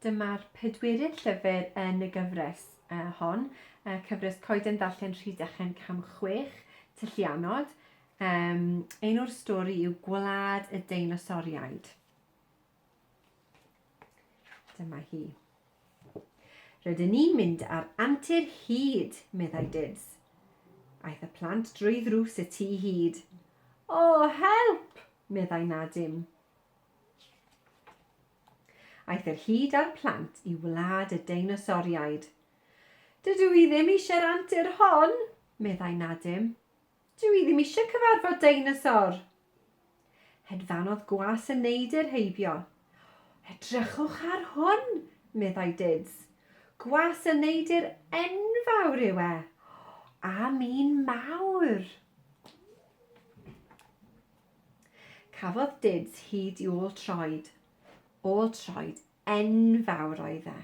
Dyma'r pedwerydd llyfr yn y gyfres hon, cyfres Coeden Ddarllen Rhydychen Cam Chwech, Tylluanod. Enw'r stori yw Gwlad y Deinosoriaid. Dyma hi. Rydyn ni'n mynd ar antur hyd, meddai Dibs. Aeth y plant drwy ddrws y tu hyd. O, help! meddai Nadim. Aeth yr hud a'r plant i wlad y deinosoriaid. Dydw i ddim eisiau'r antur hon, meddai Nadim. Dw i ddim eisiau cyfarfod deinosor. Hedfanodd gwas y neidr heibio. Edrychwch ar hwn, meddai Dids. Gwas y neidr enfawr yw e. A mi'n mawr. Cafodd Dids hyd i ôl troed. Ôl troed enfawr oedd e.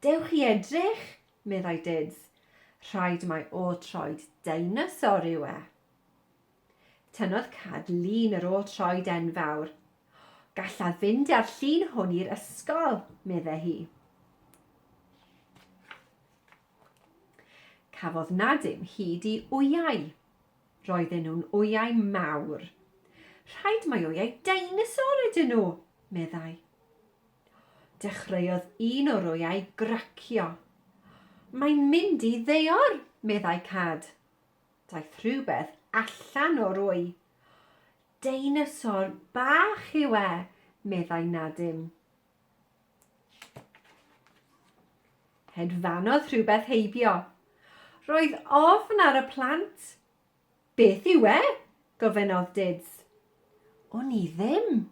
Dewch i edrych! meddai Dids. Rhaid mai ôl troed deinosor yw e. Tynnodd Cad lun yr ôl troed enfawr. Gallaf fynd â'r llun hwn i'r ysgol, medde hi. Cafodd Nadim hyd i wyau. Roedden nhw'n wyau mawr. Rhaid mai wyau deinosor ydyn nhw, meddai. Dechreuodd un o'r wyau gracio. Mae'n mynd i ddeor, meddai Cad. Daeth rhywbeth allan o'r wy. Deinosor bach yw e, meddai Nadim. Hedfanodd rhywbeth heibio. Roedd ofn ar y plant. Beth yw e? gofynnodd Dids. Wn i ddim,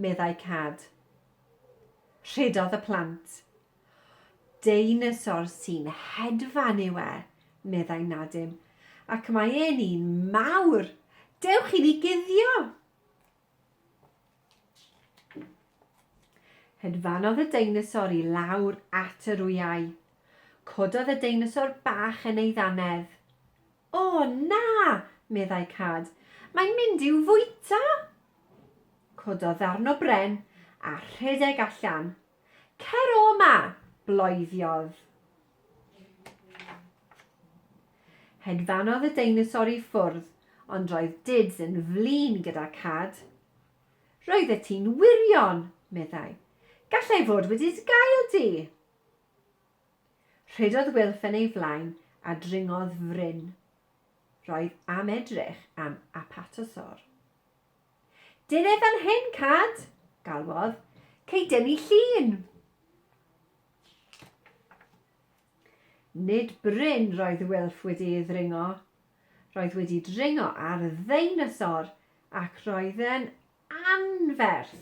meddai Cad. Rhedodd y plant. Deinosor sy'n hedfan yw e, meddai Nadim, ac mae e'n un mawr. Dewch i ni guddio! Hedfanodd y deinosor i lawr at yr wyau. Cododd y deinosor bach yn ei ddannedd. O, na! meddai Cad. Mae'n mynd i'w fwyta! Cododd ddarn o bren a rhedeg allan. Cer o 'ma! bloeddiodd. Hedfanodd y deinosor i ffwrdd, ond roedd Dids yn flin gyda cad. Roeddet ti'n wirion! meddai. Gallai fod wedi dy gael di! Rhedodd Wilff yn ei flaen a dringodd fryn. Roedd am edrych am Apatosaur. Dine fan hyn, Cad! galwodd. Cei dynnu llun! Nid bryn roedd Wilf wedi ei ddringo. Roedd wedi dringo ar ddeinosor ac roedd e'n anferth.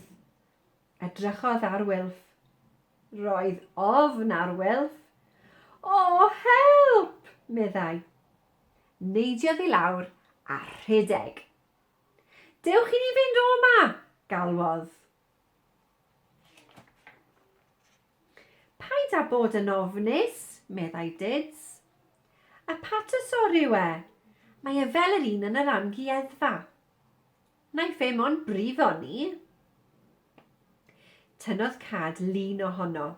Edrychodd ar Wilf. Roedd ofn ar Wilf. O, help! meddai. Neidiodd i lawr a rhedeg. Dewch i ni fynd o 'ma! galwodd. Paid â bod yn ofnus, meddai Dids. Apatosaur yw e. Mae e fel yr un yn yr amgueddfa. Naiff e mon brifo ni. Tynnodd cad lun ohono.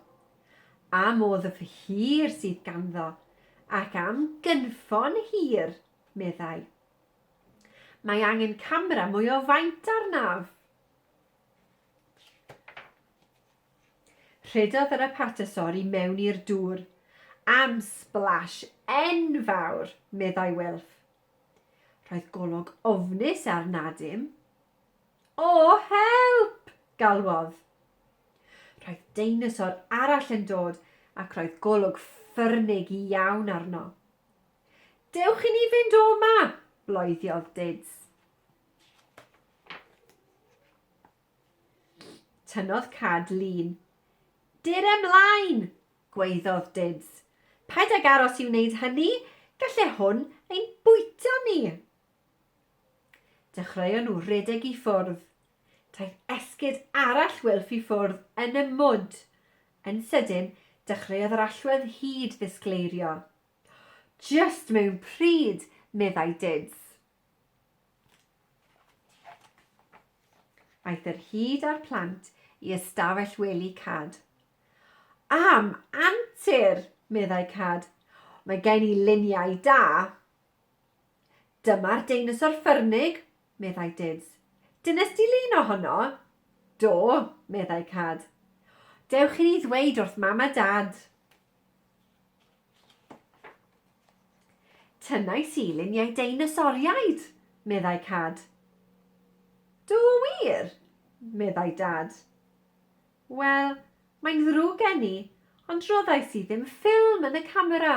Am o ddyf hir sydd ganddo, ac am gynffon hir, meddai. Mae angen camera mwy o faint arnaf. Rhedodd yr apartesor i mewn i'r dŵr. Am splash enfawr, meddai Wilf. Roedd golwg ofnus ar Nadim. O, help! galwodd. Roedd deinosor arall yn dod ac roedd golwg ffyrnig iawn arno. Dewch i ni fynd o 'ma! bloediodd Dids. Tynnodd cad lun. Dir ymlaen! gwaeddodd Dids. Paid ag aros i wneud hynny, galle hwn ein bwyta ni! Dechreuon nhw redeg i ffwrdd. Daeth esgid arall wylff i ffwrdd yn y mwd. Yn sydyn, dechreuodd yr allwedd hyd ddisgleirio. Just mewn pryd, meddai Dids. Aeth yr hyd a'r plant i ystafell wely Cad. Am antur, meddai Cad. Mae gen i luniau da. Dyma'r deinosor ffyrnig, meddai Dids. Dynes di lun ohono? Do, meddai Cad. Dewch i ni ddweud wrth mam a dad. Tynnais i luniau deinosoriaid, meddai Cad. Do wir? meddai Dad. Wel, mae'n ddrwg gen i, ond roddais i ddim ffilm yn y camera.